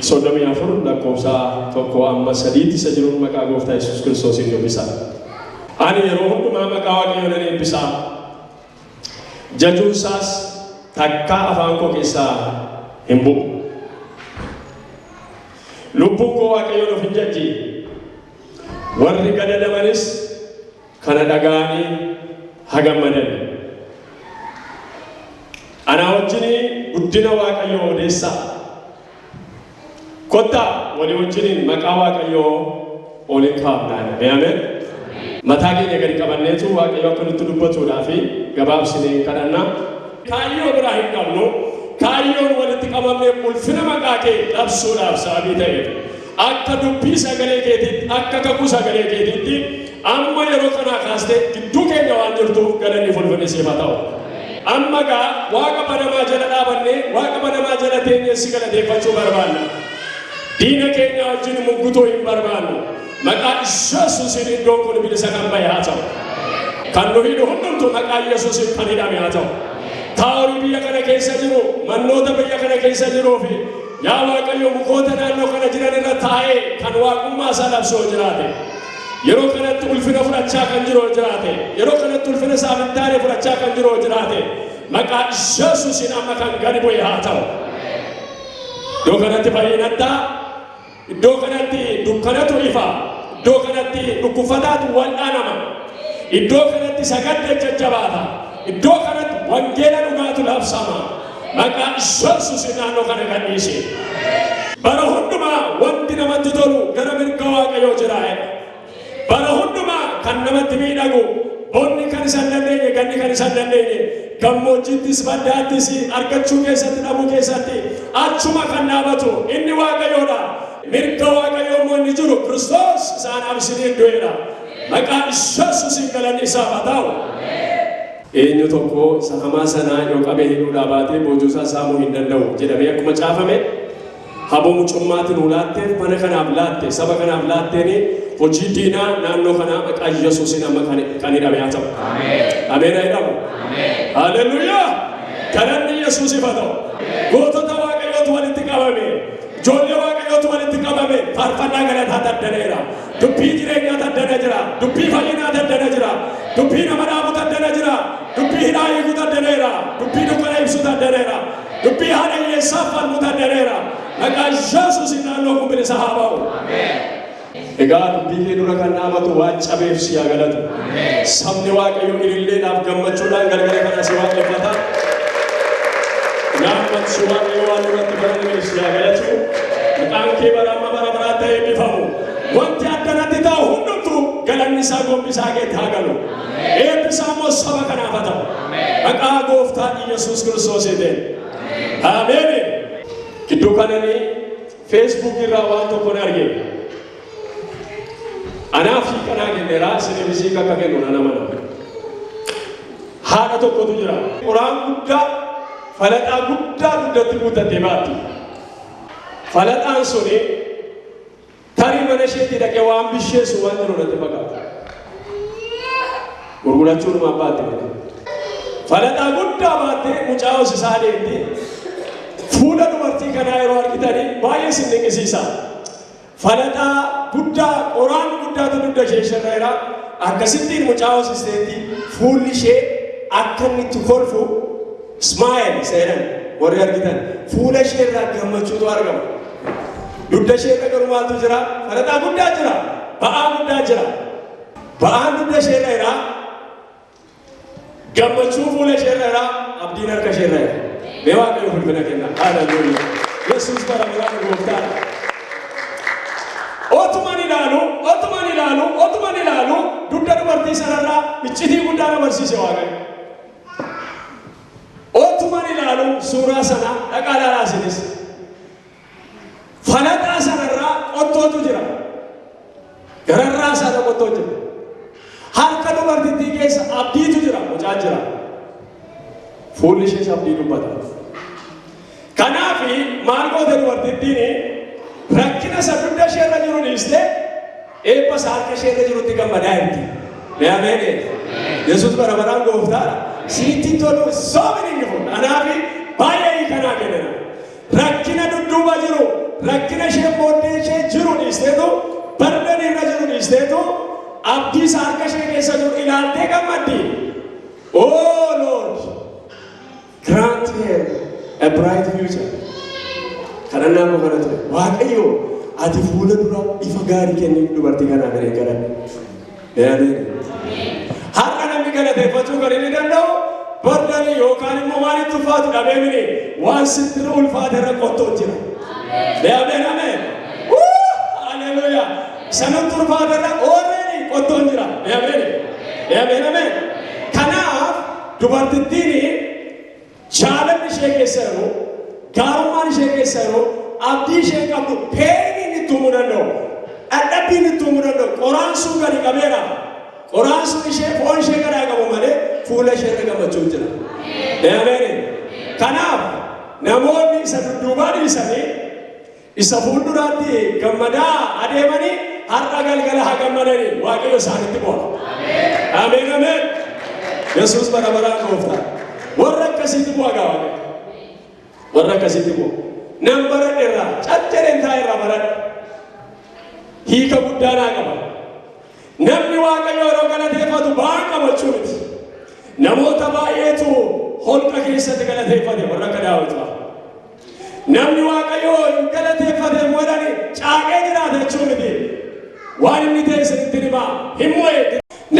34 lakkoofsa 1 amma 3 tti isa jiruun maqaa gooftaa Yesuus Kiristoosiin dubbisa. Ani yeroo hundumaa maqaa Waaqayyoo nan eebbisa. Jajuun isaas takkaa afaan koo keessaa hin bu'u. Lubbuun koo Waaqayyoon of hin jajji. Warri gadadamanis kana dhaga'anii ha gammadan. Anaa wajjin guddina Waaqayyoo odeessaa. Kottaa walii wajjiniin maqaa Waaqayyoo oliin kaa'amnaan. Ameen. Mataa keenya gadi qabanneetu Waaqayyo akka nutti dubbatuudhaa fi gabaabsinee hin kadhanna. Kaayyoo biraa hin qabnu. Kaayyoon walitti qabamne ulfina maqaa kee labsuudhaaf sababii ta'eef. Akka dubbii sagalee keetiitti, akka kakuu sagalee keetiitti amma yeroo kanaa kaastee gidduu keenya waan jirtuuf galanni fi ulfinni siif haa ta'u. Amma egaa Waaqa banamaa jala dhaabannee, Waaqa banamaa jala teenyee si galateeffachuu barbaanna. Diina keenyaa wajjin muggutuu hin barbaannu. Maqaa Yesuusiin iddoon kun bilisa kan ba'e haa ta'u. Kan nu hidhu hundumtu maqaa Yesuusiin kan hidhame haa ta'u. Taa'orii biyya kana keessa jiru, mannoota biyya kana keessa jiruu fi Yaa Waaqayyo mukoota naannoo kana jiran irra taa'ee kan waaqummaa isaa labsu yoo jiraate, yeroo kanatti ulfina fudhachaa kan jiru yoo jiraate, yeroo kanatti ulfina isaa hin taane fudhachaa kan jiru yoo jiraate, maqaa Yesuusiin amma kan gadi bu'e haa ta'u. Iddoo kanatti fayyinadha. Iddoo kanatti dukkanatu ifa. Iddoo kanatti dhukkufataatu wal'aanama. Iddoo kanatti sagadda jajjabaata. Iddoo kanatti wangeela dhugaatu labsama. Maqaa Iyyesuusiin naannoo kana gadhiisi. Bara hundumaa wanti namatti tolu gara mirga Waaqayyoo jira jedha. Bara hundumaa kan namatti miidhagu, bonni kan isa hin dandeenye, ganni kan isa hin dandeenye, gammoojjiittis baddaattis argachuu keessatti dhabuu keessatti achuma kan dhaabatu inni Waaqayyoodha. Mirga Waaqayyoo immoo inni jiru Kiristoos isa anaaf isiniif du'eedha. Maqaa Iyyesuusiin galanni isaaf haa ta'u. Eenyu tokko isa hamaa sana yoo qabee hidhuudhaa baate boojuu isaa saamuu hin danda'u jedhamee akkuma caafame, haboo mucummaa ati nuu laatteen, mana kanaaf laatte, saba kanaaf laatteen hojii diinaa naannoo kanaa maqaa Yesuusiin amma kan kan hidhame haa ta'u. Ameen haa hidhamu. Haleluuyaa! Galanni Yesuusiif haa ta'u. Gootota Waaqayyootu walitti qabame. Ijoollee Waaqayyootu walitti qabame. Faarfannaa galataa daddaneera. Dubbii jireenyaa taddana jira. Dubbii fayyinaa taddana jira. Dubbii nama dhaabu taddana jira. Dubbii hidhaa hiiku taddaneera. Dubbii dukkana ibsu taddaneera. Dubbii haadha hiyyeessaaf falmu taddaneera. Maqaa Yesuusiin naannoo kun bilisa haa ba'u. Egaa dubbii kee dura kan dhaabatu waan cabeef si haa galatu. Sabni Waaqayyoo ililleedhaaf gammachuudhaan galgala kana si waaqeffata. Yaa ummati Waaqayyo waan irratti baranne si haa galatu. Maqaan kee bara amma bara baraa ta'ee bifamu. Wanti akkanatti ta'u hundumtu galanni isaa gombisaa keetti haa galu. Eebbi isaa immoo saba kanaaf haa ta'u. Maqaa gooftaa Iyyasuus Kiristoosiitiin. Ameen. Gidduu kananii Facebook irraa waan tokkon arge. Anaa fi kanaa kenneraa isin misiik akka kennu nan amana. Haadha tokkotu jira. Qoraan guddaa falaxaa guddaa guddatti guuttattee baatti. Falaxaan suni tarii mana isheetti dhaqee waan bisheessu waan jiru natti fakkaata. Gurgurachuu dhuma abbaatte bakka. Falaxaa guddaa baattee mucaa hoosisaa deemti. Fuula dubartii kanaa yeroo argitanii baay'ee isin dinqisiisa. Falaxaa guddaa qoraan guddaatu dugda ishee sharra'eera. Akkasittiin mucaa hoosisteetti fuulli ishee akka inni itti kolfu Smile seenan warri argitan fuula ishee irraa gammachuutu argama. Dugda ishee irra garuu maaltu jira? Faraxaa guddaa jira. Ba'aa guddaa jira. Ba'aan dugda ishee irra jira. Gammachuu fuula ishee irra jira. Abdiin harka ishee irra jira. Mee waaqayyo ulfina kenna. Haleluuyaa. Yesuus bara baraan gooftaadha. Otuman ilaalu, otuman ilaalu, otuman ilaalu dugda dubartii sanarraa iccitii guddaa na barsiise waaqayyo. Otuman ilaalu suuraa sana dhaqaa ilaalaa isinis. Falaxaa sanarraa qottootu jira. Gararraa isaarra qottoo jira. Harka dubartittii keessa abdiitu jira, mucaa jira. Fuulli ishees abdii dubbata. Kanaaf maal goote dubartittiin rakkina isa guddaa ishee irra jiru dhiistee eebba isaa harka ishee irra jirutti gammadaa jirti. Mee ameen Yesuus bara baraan gooftaa sitti tolu soomini ni fuudha. Kanaaf baay'ee hiikanaa kennina. Rakkina dudduuba jiru rakkina ishee booddee ishee jiru dhiisteetu bardeen irra jiru dhiisteetu abdii isaa harka ishee keessa jiru ilaaltee gammaddi. Oo Lord! Grant her a bright future. Kadhannaa koo kana ture. Waaqayyo ati fuula dura ifa gaarii kenniif dubartii kanaa garee gara. Yaadee. Har'a namni galateeffachuu kan inni danda'u bardanii yookaan immoo waan itti ulfaatu dhabee miti waan sitti irra ulfaate irra qottoo jira. Yaadee namee. Haleluuyaa. Sanatti ulfaate irra oolanii qottoon jira. Yaadee. Yaadee namee. Dubartittiin jaalalli ishee keessa jiru, gaarummaan ishee keessa jiru, abdii isheen qabdu, peeniin itti uumuu danda'u, dhadhabbiin itti uumuu danda'u, qoraan sun gadi qabeera. Qoraan sun ishee foon ishee garaa qabu malee fuula ishee irra gammachuun jira. Ameen. Kanaaf namoonni isa dudduubaa dhiisanii Isa fuulduraatti gammadaa adeemanii har'a galgala haa gammadanii waaqayyo isaanitti bu'a. Ameen ameen. Yesuus bara baraan gooftaa. Warra akkasiitti bu'a gaa waaqayyo. Warra akkasiitti bu'a. Nan baradhe irraa caccabeen taa'e irraa baradhe. Hiika guddaa naa qaba. Namni waaqayyo yeroo galateeffatu ba'aa qabachuu miti. Namoota baay'eetu holqa keessatti galateeffate warra akka daawwitu. Namni Waaqayyoo hin galateeffate hin godhani caaqee jiraata jechuu miti. Waan inni ta'e isinitti hima. Hin mo'e.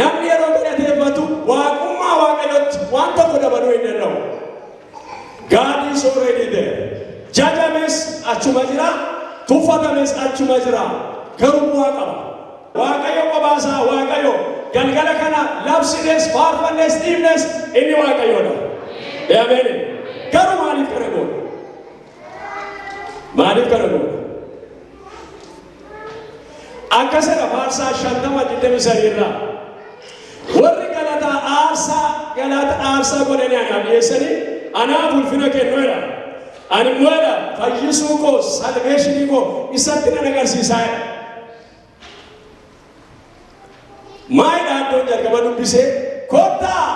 Namni yeroo galateeffatu waaqummaa Waaqayyootti waan tokko dabaluu hin danda'u. God is already there. Jajames achuma jira, tuffatames achuma jira. Garuu bu'aa qaba. Waaqayyo qophaa isaa Waaqayyo. Galgala kana labsines, faarfannes, dhiifnes inni Waaqayyoodha. Ee ameen. Garuu maaliif kana goona? Maaliif kana goona? Akkasidha faarsaa shantama digdami sadii irraa. Warri galata aarsaa galata aarsaa godhanii anaaf dhiyeessanii anaaf ulfina kennu jedha. Ani immoo jedha fayyisuu koo salveeshinii koo isatti nan agarsiisaa jedha. Maalidha iddoon jalqaba dubbise? Kottaa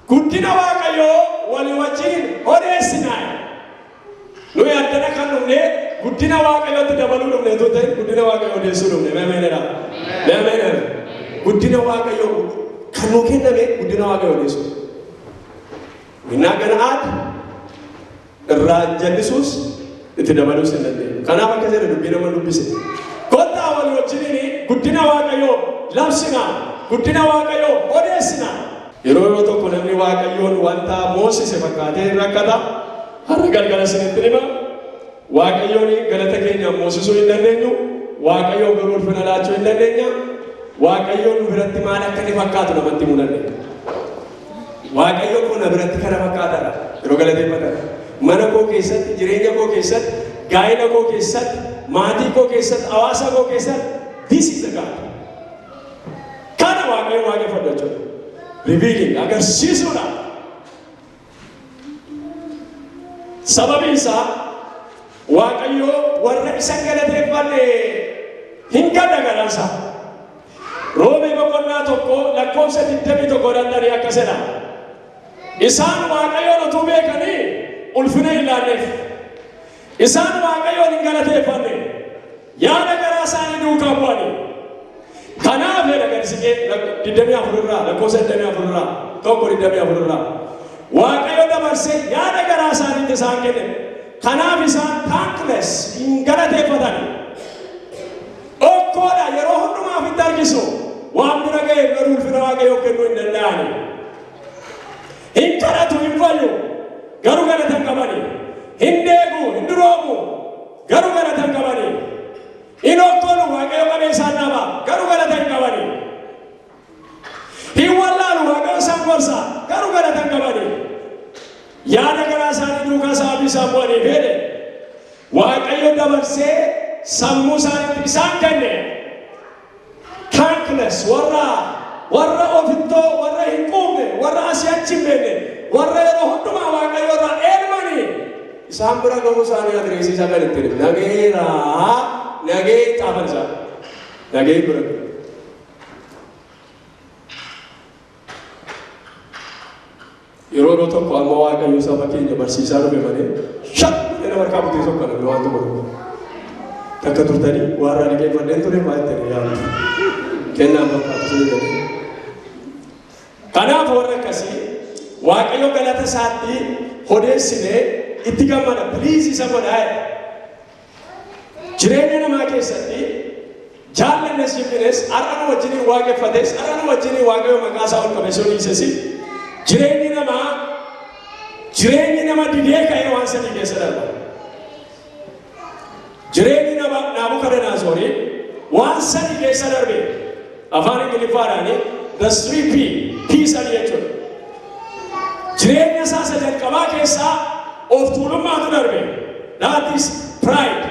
guddina Waaqayyoo walii wajjin odeessinaa. Nuyi addana kan dhufne guddina Waaqayyootti dabaluu dhufne utuu ta'e guddina Waaqayyoo odeessuu dhufne. Meemeenera. Meemeenera. Guddina Waaqayyoo kan nuu kenname guddina Waaqayyoo odeessuu. Innaa gana aad irraa jallisuus itti dabaluus hin dandeenyu. Kanaaf akka jedhe dubbii nama dubbise. Kottaa wal wajjiniin guddina Waaqayyoo labsina, guddina Waaqayyoo odeessina. Yeroo yeroo tokko namni Waaqayyoon wanta moosise fakkaatee hin rakkata. Har'a galgala isinitti hima. Waaqayyoon galata keenya moosisuu hin dandeenyu. Waaqayyoon garuu ulfina laachuu hin dandeenya. Waaqayyoon nu biratti maal akka inni fakkaatu namatti himuu dandeenya. Waaqayyo koo na biratti kana fakkaata dha. Yeroo galateeffatan mana koo keessatti, jireenya koo keessatti, gaa'ila koo keessatti, maatii koo keessatti, hawaasa koo keessatti this is the God. Kana Waaqayyo waaqeffadhu jechuudha. Revealing agarsiisuudha. Sababiin isaa Waaqayyo warra isa galateeffate hin gadda garaan isaa. Roomee boqonnaa 1 lakkoofsa 21 irratti tarii akkas jedha. Isaan Waaqayyoon utuu beekanii ulfina hin laanneef. Isaan Waaqayyoon hin galateeffanne. Yaada garaa isaanii duukaa bu'anii. Kanaaf jedha gadisiqee 24 irraa lakkoofsa 24 irraa tokko 24 irraa. Waaqayyo dabarsee yaada garaa isaaniitti isaan kenne. Kanaaf isaan thankless hin galateeffatan. Dhokkoo dha, yeroo hundumaa ofitti harkisu. Waan bira ga'eef garuu ulfina Waaqayyoof kennuu hin danda'ani. Hin kadhatu, hin fayyu, garuu galata hin qabani. Hin deegu, hin duroomu, garuu galata hin qabani. Hin okkolu, Waaqayyo qabee isaan dhaaba, garuu galata hin qabani. Hin wallaalu Waaqayyo isaan gorsa, garuu galata hin qabaniif. Yaada garaa isaanii duukaa sababii isaan bu'aniif jedhe Waaqayyo dabarsee sammuu isaaniitti isaan kenne. Thankless warra warra ofittoo warra hin quufne warra asii achi hin beekne warra yeroo hundumaa Waaqayyo irraa eermanii isaan bira gahuu isaanii adireesii isaa kan ittiin nageera nagee xaafan isaa nagee bira. yeroo yeroo tokko amma waaqayyo saba keenya barsiisaa dhufe malee shak jedhee harkaa butee tokko dha waan tokko dhufu. Takka turtanii waan raadii deeffadheen ture waan ta'e yaadu. Kennaan fakkaatu sun jedhee. Kanaaf warra akkasii waaqayyo galata isaatti odeessinee itti gammada piliis isa godhaa jedha. Jireenya namaa keessatti jaallannes jibbines har'a nu wajjiniin waaqeffates har'a nu wajjiniin waaqayyo maqaa isaa ol qabeessoo dhiises jireenyi namaa jireenyi nama didee ka'ee waan sadii keessa darba. Jireenyi nama Naabukadanaasoorii waan sadii keessa darbe. Afaan Ingiliffaadhaani the three P, P sadii jechuudha. Jireenya isaa isa jalqabaa keessaa of tuulummaatu darbe. That is pride.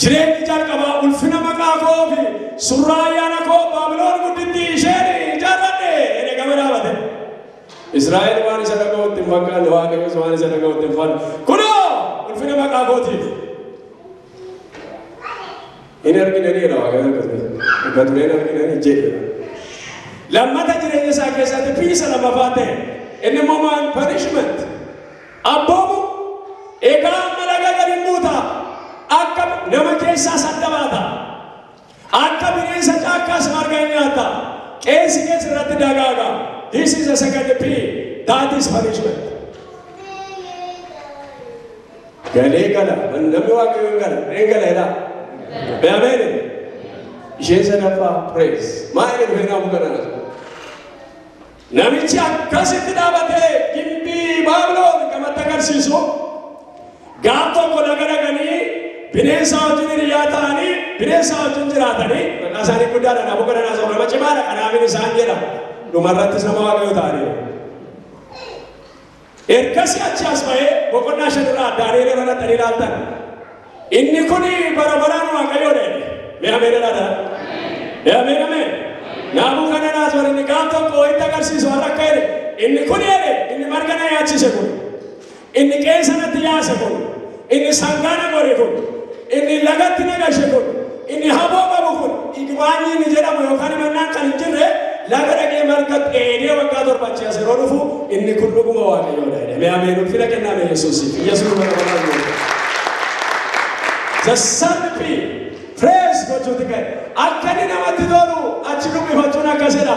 Jireenyi jalqabaa ulfina maqaa koo fi surraa ayyaana koo Baabiloon gudditti isheen ijaarradhe jedhee gama dhaabate. Israa'el waan isa dhaga'utti hin fakkaanne Waaqayyos waan isa dhaga'utti hin fakkaanne. Kunoo ulfina maqaa kootiif. Hin arginanii jedha waaqayyo turee. Dhuga turee hin arginanii jedhe. Lammata jireenya isaa keessatti piisa lammaffaa ta'e. Inni immoo maal punishment. Abboomu egaa amma laga gadi buuta. Akka nama keessaa sadda baata. Akka bineensa caakkaas marga in nyaatta. Qeensi kees irratti dagaaga. This is the second P. That is punishment. Galee gala. Namni waaqayyo hin gala. Reen gala jedhaa. Mee ameen. Isheen sadaffaa praise. Maa inni dhufee naa bukanaa? Namichi akkasitti dhaabatee gimbii Baabiloon gamatti agarsiisu gaaf tokko laga dhaqanii bineensaa wajjin hiriyaa ta'anii bineensaa wajjin jiraatanii maqaa isaanii guddaadha naafuu kana naasoo nama cimaadha kanaafin isaan jedha dhumarrattis nama waaqayyo ta'anii. Ergasii achii as ba'ee boqonnaa 5 irraa Daani'el irra dhaqxanii ilaaltan. Inni kun bara baraan Waaqayyoo dha jedhe. Mee ameen jedhaa dha. Mee ameen ameen. Naabuu kana naas warri inni gaaf tokko itti agarsiisu har'a akka jedhe. Inni kun jedhe inni marga na yaachise kun. Inni qeensa natti yaase kun. Inni sangaa na gore kun, inni lagatti na gashe kun, inni haboo qabu kun, igbaanyii inni jedhamu yookaan himannaan kan hin jirre laga dhaqee marga dheedee waggaa torba achi as yeroo dhufu inni kun dhuguma waaqayyoodha jedhe. Mee ameen ulfina kennaa mee Yesuusiif. Yesuus bara bara barbaadu. The sun be praise gochuuti kan akka inni namatti tolu achi dhuggifachuun akkasidha.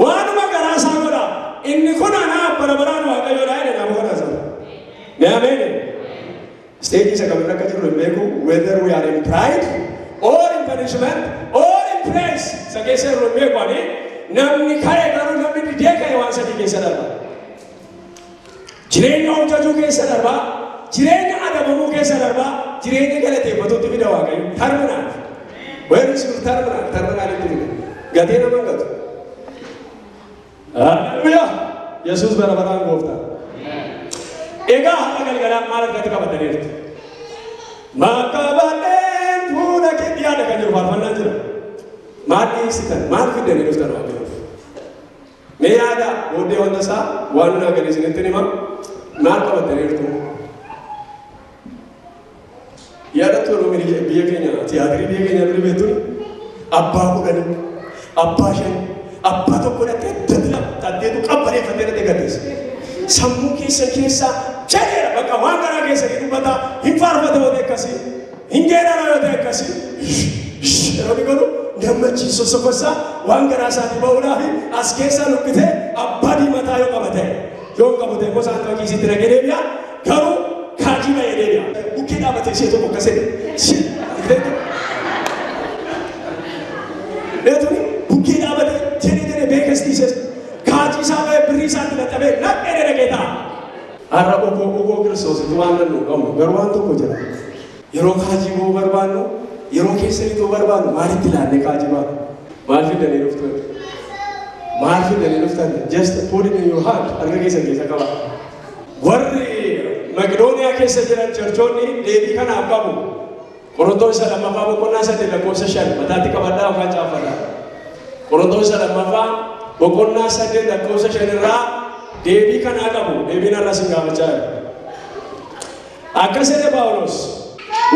Waanuma garaa isaa godha. Inni kun anaa bara baraan Waaqayyoo dha jedhe Naabukodonosor. Mee ameen jedhu. Stage isa kamirra akka jirru hin beeku. Whether we are in pride or in punishment or in praise isa keessa jirru hin beeku ani. Namni ka'e garuu namni didee ka'e waan sadii keessa darba. Jireenya of jajuu keessa darbaa, jireenya adabamuu keessa darbaa, jireenya galateeffatuutti fida Waaqayyo. Terminal. Where is your terminal? Terminal itti fida. Gatee nama hin gatu. Haleluyaa! Yesuus bara baraan gooftaa. Egaa har'a galgalaan maal argatti qabataniirtu? Makabadeen fuula kee dhiyaadha kan jiru faarfannaan jira. Maal dhiyeessitan? Maal fiddanii dhuftan waaqayyoof? Mee yaadaa, booddee wanta isaa waan hunaa gadi isinittin hima, maal qabattaniirtu? Yaadattu yeroo biyya biyya keenya tiyaatirii biyya keenya duri beektun abbaa kudhani, abbaa shani, abbaa tokko dhattee datti lama tatteetu qabbaneeffattee dhattee gaddeessa. Sammuu keessa keessaa jedheera bakka waan garaa keessanii dubbata hin faarfata wanti akkasii. Hin geerara yoo ta'e akkasii yeroo inni godhu gammachiisu sosokosaa waan garaa isaatii ba'uudhaa fi as keessaa luqqitee abbaa diimataa yoo qaba ta'e yoo hin qabu ta'e immoo isaan kan kiisitti nagee deebi'a garuu kaajii ba'ee deebi'a. Bukkee dhaabatee ishee tokko akkasii Beetuni bukkee dhaabatee jedhee jedhee beekastii ishee kaajii isaa ba'ee birrii isaatti dadhabee naqee dhaqee ta'a. Har'a ukoo ukoo Kiristoositti waan danda'u qabnu garuu waan tokko jira. Yeroo kaajii ba'uu barbaannu yeroo keessa itoo barbaannu maalitti ilaannee kaajii baana? Maal fidanii dhuftan? Maal fidanii dhuftan? Just put it in your hand harka keessan keessa qaba. Warri Maqidooniyaa keessa jiran charchoonni deebii kanaaf qabu. Qorontoos isa lammaffaa boqonnaa saddeet lakkoofsa shan mataatti qabadhaa yookaan caaffadhaa. Qorontoos isa lammaffaa boqonnaa saddeet lakkoofsa shan irraa deebii kanaa qabu deebiin har'a isin gaafachaa jira. Akkas jedhe Phaawulos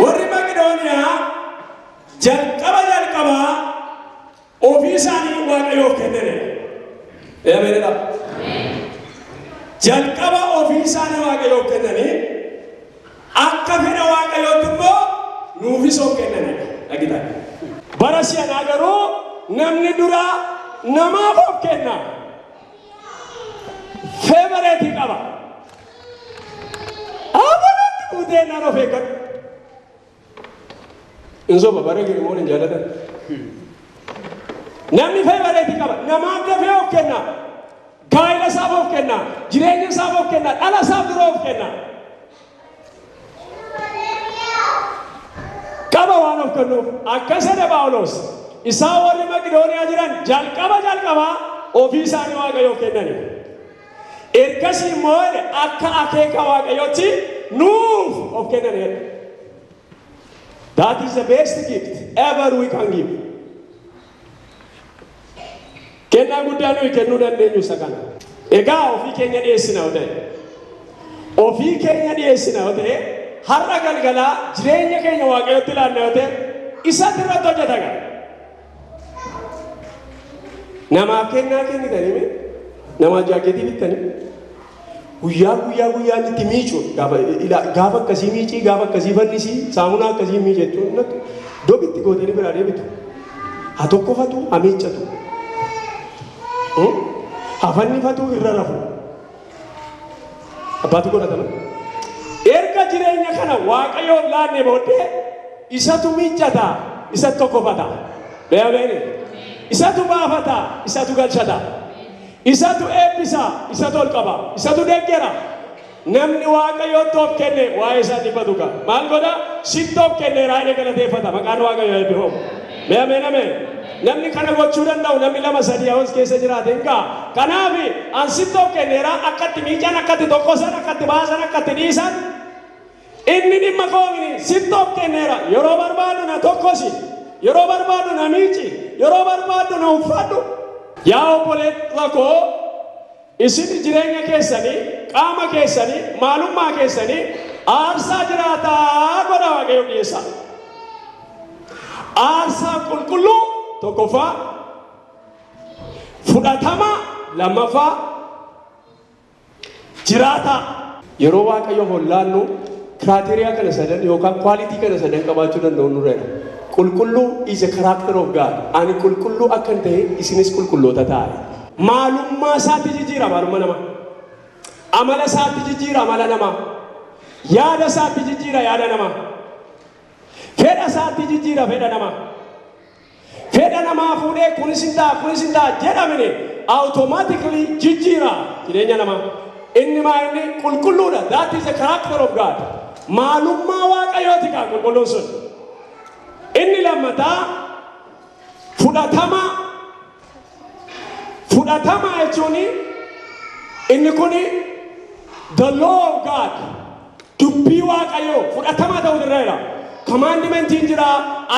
warri Maqidooniyaa jalqaba jalqabaa Ofii isaanii Waaqayyoof kennaniidha. Ee ameen jedhaa. Jalqaba ofii isaanii Waaqayyoof kennanii akka fedha Waaqayyootti immoo nuufis of kennaniidha. Dhagitaan. Bara si'anaa garuu namni dura namaaf of kenna. Feevareetii qaba. Amalatti buutee naan of eeggatu. Hin soba bara jiru immoo hin jaalatan. Namni feevareetii qaba. Namaaf dafee of kenna. Gaa'ila isaaf of kenna. Jireenya isaaf of kenna. Dhala isaaf dura of kenna. Qaba waan of kennuuf. Akkas jedhe Phaawulos. Isaa warri Maqidooniyaa jiran jalqaba jalqabaa ofii isaanii Waaqayyoof kennani. Ergasii immoo jedhe akka akeeka Waaqayyootti nuuf of kennaniiru. That is the best gift ever we can give. Kennaa guddaa nuyi kennuu dandeenyu isa kana. Egaa ofii keenya dhiyeessina yoo ta'e. Ofii keenya dhiyeessina yoo ta'e har'a galgalaa jireenya keenya Waaqayyootti laanna yoo ta'e isatti irratti hojjeta gara. Namaaf kennaa kennitanii mee? Namaa jaaketii bittanii? Guyyaa guyyaa guyyaa inni itti miicu gaafa ila- gaafa akkasii miicii gaafa akkasii fannisii saamunaa akkasii miice jechuun natti dobitti gootanii biraa deebitu. Ha tokkofatu ha miiccatu. Hmm? Ha fannifatu irra rafu. Abbaatu godhatama. Erga jireenya kana Waaqayyoof laannee booddee isatu miiccata, isatu tokkofata. Beeyabeeni. Isatu baafata, isatu galchata. Isatu eebbisa, isatu ol qaba, isatu deggera. Namni Waaqayyootti of kenne waa'ee isaa dhiphatu qaba. Maal godha? Sitti of kenneeraa jedhee galateeffata. Maqaan Waaqayyoo eebbifamu. Mee ameen ameen. Namni kana gochuu danda'u namni lama sadii yoo as keessa jiraate hin ga'a. Kanaaf an sitti of kenneera akka itti miican akka itti tokkosan akka itti baasan akka itti dhiisan inni dhimma koomini sitti of kenneera yeroo barbaadu na tokkosi yeroo barbaadu na miici yeroo barbaadu na uffadhu. Yaa obboleessa koo Isin jireenya keessani, qaama keessani, maalummaa keessani aarsaa jiraataa godhaa Waaqayyoof dhiyeessaa. Aarsaa qulqulluu tokkoffaa, fudhatamaa lammaffaa, jiraataa. Yeroo Waaqayyo hollaannu kiraateriyaa kana sadan yookaan kwaalitii kana sadan qabaachuu danda'u nurreera. Qulqulluu is a character of God. Ani qulqulluu akkan ta'e isinis qulqulloota ta'a. Maalummaa isaatti jijjiira maalumma namaa. Amala isaatti jijjiira amala namaa. Yaada isaatti jijjiira yaada namaa. Fedha isaatti jijjiira fedha namaa. Fedha namaa fuudhee kunis hin ta'a kunis hin ta'a jedhamine automatically jijjiira jireenya namaa. Inni maa inni qulqulluudha. That is the character of God. Maalummaa Waaqayyooti kaa qulqulluun sun. Inni lammataa fudhatama Fudhatama jechuun inni kun the law of God dubbii waaqayyoo fudhatama ta'uu irra jira. Kamaandimentiin jira,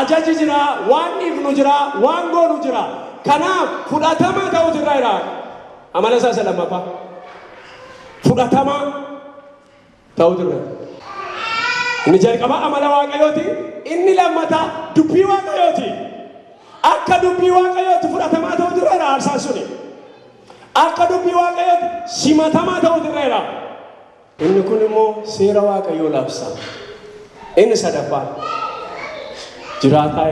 ajaji jira, waan dhiifnu jira, waan goonu jira. Kanaaf fudhatama ta'uu irra jira. Amala isaa isa lammaffaa. Fudhatama ta'u turre. Inni jalqabaa amala Waaqayyooti, inni lammataa dubbii Waaqayyooti. Akka dubbii Waaqayyooti fudhatamaa ta'u turreera aarsaan suni. Akka dubbii Waaqayyooti simatamaa ta'u turreera. Inni kun immoo seera Waaqayyoo labsa. Inni sadaffaan jiraataa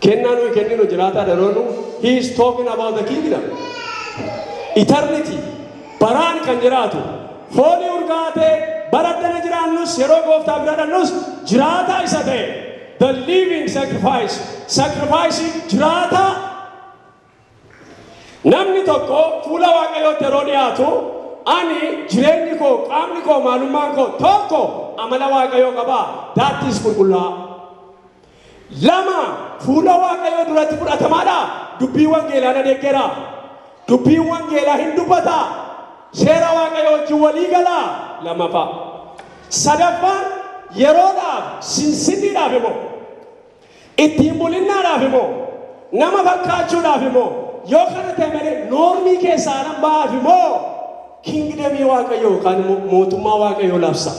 Kennaa nuyi kenninu jiraataa daroonu he is talking about the kingdom. Eternity baraan kan jiraatu foonii urgaatee bara addana jiraannus yeroo gooftaa bira dhannus jiraataa isa ta'e the living sacrifice sacrifice jiraataa Namni tokko fuula Waaqayyootti yeroo dhiyaatu, Ani, jireenyi koo, qaamni koo, maalummaan koo, tokko, amala Waaqayyoo qaba, that is qulqullaa'aa. Lama, fuula Waaqayyoo duratti fudhatamaadha, dubbii wangeelaa na deggera, dubbiin wangeelaa hin dubbata, seera Waaqayyoo wajjin walii gala, lammaffaa. Sadaffaan, yeroodhaaf, sinsinniidhaaf immoo. Ittiin bulinnaadhaaf moo? Nama fakkaachuudhaaf moo? Yoo kana ta'e malee noormii keessaa nan ba'aafi moo? Kingdamii Waaqayyoo yookaan immoo mootummaa Waaqayyoo labsa.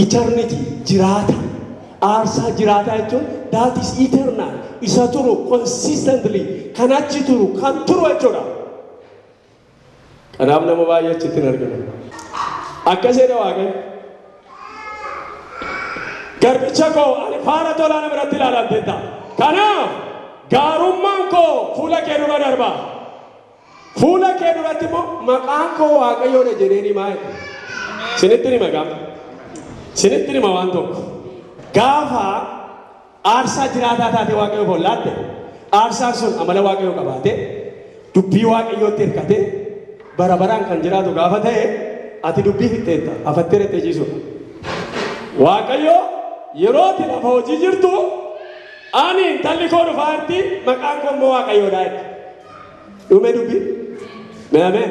Eternity, jiraata. Aarsaa jiraataa jechuun that is eternal, isa turu consistently, kan achi turu, kan turu jechuudha. Kanaaf nama baay'ee achitti hin arginu. Akkas jedha Waaqayyo. Garbicha koo ani faana tolaa na biratti ilaalamteetta. Kanaaf gaarummaan koo fuula kee dura darba. Fuula kee duratti immoo maqaan koo Waaqayyoodha jedheen himaa jedhe. Sinitti hima gaafa. Sinitti hima waan tokko. Gaafa Aarsaa jiraataa taatee Waaqayyoof ol laatte, aarsaan sun amala Waaqayyoo qabaatee, dubbii Waaqayyootti hirkatee, bara baraan kan jiraatu gaafa ta'e, ati dubbii fixxeetta, hafattee dhattee ciisuudha. Waaqayyo yeroo ati lafa hojii jirtu, ani intalli koo dhufaa jirti, maqaan koo immoo Waaqayyoodha jedhe. Dhume dubbii. Mee ameen.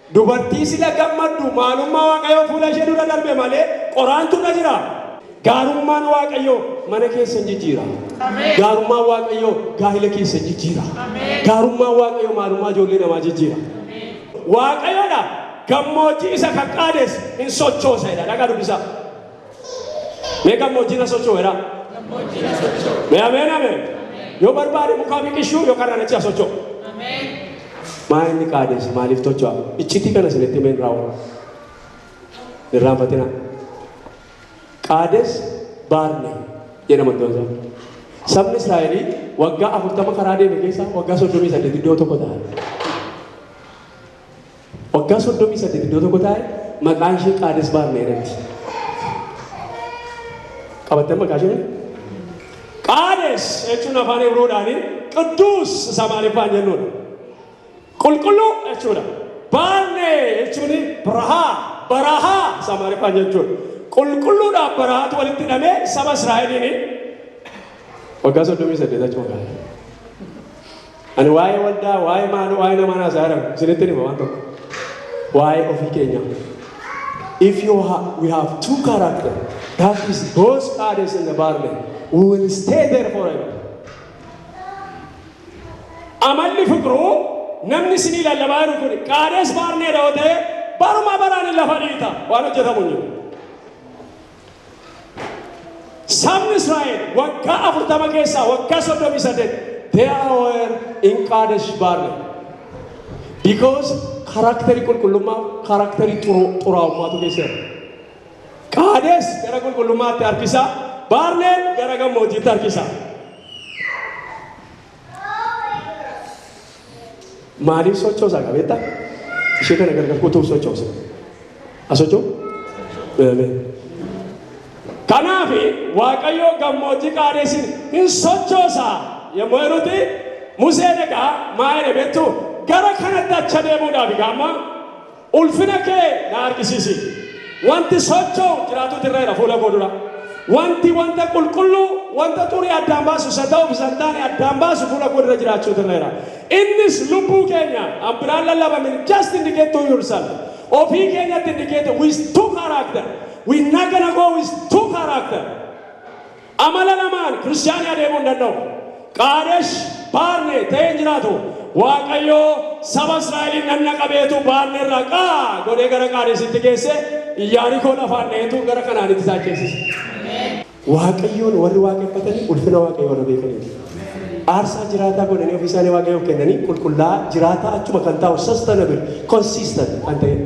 Dubartii sila gammaddu maalummaa Waaqayyoo fuula ishee dura darbe malee qoraantu irra jiraa? Gaarummaan Waaqayyoo mana keessan jijjiira. Gaarummaan Waaqayyoo gaa'ila keessan jijjiira. Gaarummaan Waaqayyoo maalummaa ijoollee namaa jijjiira. Waaqayyodha gammoojjii isa kan qaadesse hin sochoosa jedha. Dhaqaa dubbisaa. Mee gammoojjii na socho'u jedhaa. Mee ameen ameen. Yoo barbaade mukaa biqilchuu yookaan ranachi haa socho'u. Maa inni qaadeessi maaliif tocho'a? Iccitii kana isinitti himeen raawwata. Irraanfatina. Qaades baarne jedhama iddoon isaa. Sabni Israa'elii waggaa afurtama karaa deeme keessaa waggaa soddomii saddeet iddoo tokko ta'an. Waggaa 38 iddoo tokko taa'e maqaan ishee Qaades Baarnee jedhamti. Qabattan maqaa ishee? Qaades jechuun afaan Ibroodhaanii qidduus isa maaliffaan jennuudha. Qulqulluu jechuudha. Baarnee jechuun barahaa barahaa isa maaliffaan jechuudha. Qulqulluudhaaf barahaatu walitti hidhamee saba Israa'eliin waggaa 38 achi waggaa. Ani waa'ee waldaa, waa'ee maaloo, waa'ee namaan haasaa jiran isinitti hima waan tokko. Waa'ee ofii keenyaa. If you ha we have two character, that is those fathers in the barley, we will stay there forever. Amalli fiqiruu namni isinii lallabaa jiru kun qaades baarneedha yoo ta'e baruma baraan hin lafa dhiita waan hojjetamu hin jiru. Sabni Israa'el waggaa afurtama keessaa waggaa soddomii saddeet they are in Qaadesh Barnee. Because karakterii qulqullummaa karakterii xuraa'ummaatu keessa jira. Qaadesh gara qulqullummaatti harkisa, Barneen gara gammoojjiitti harkisa. Maaliif sochoosaa qabeetta? Ishee kana gargar kutuu sochoosa. Asochoo? Kanaaf Waaqayyoo gammoojjii qaadeessin hin sochoosaa yommuu jedhutti Museen egaa maa jedhe beektu gara kanatti acha deemuudhaaf egaa amma Ulfina kee na argisiisi. Wanti socho'u jiraatu tirreera fuula koo dura. Wanti wanta qulqulluu, wanta xurii addaan baasu, isa ta'uuf isa hin taane addaan baasu fuula koo dura jiraachuu tirreera. Innis lubbuu keenya, an biraan lallabamin, just indicate to yourself. Ofii keenyatti indicate with two character. We not gonna go with two character. Amala lamaan Kiristiyaanni adeemuu hin danda'u. Qaadesh Baarnee ta'ee hin jiraatu. Waaqayyo saba Israa'eliin nanna qabeetu Baarnee irraa qaa godhee gara Qaadesitti geesse, Iyyaarikoo lafaan dha'eetu gara Kanaanitti isaan ceesise. Waaqayyoon warri waaqeffatanii ulfina Waaqayyoo warra beekaniiti. Aarsaa jiraataa godhanii ofii isaanii Waaqayyoof kennanii qulqullaa'aa jiraataa achuma kan taa'u sustainable, consistent kan ta'edha.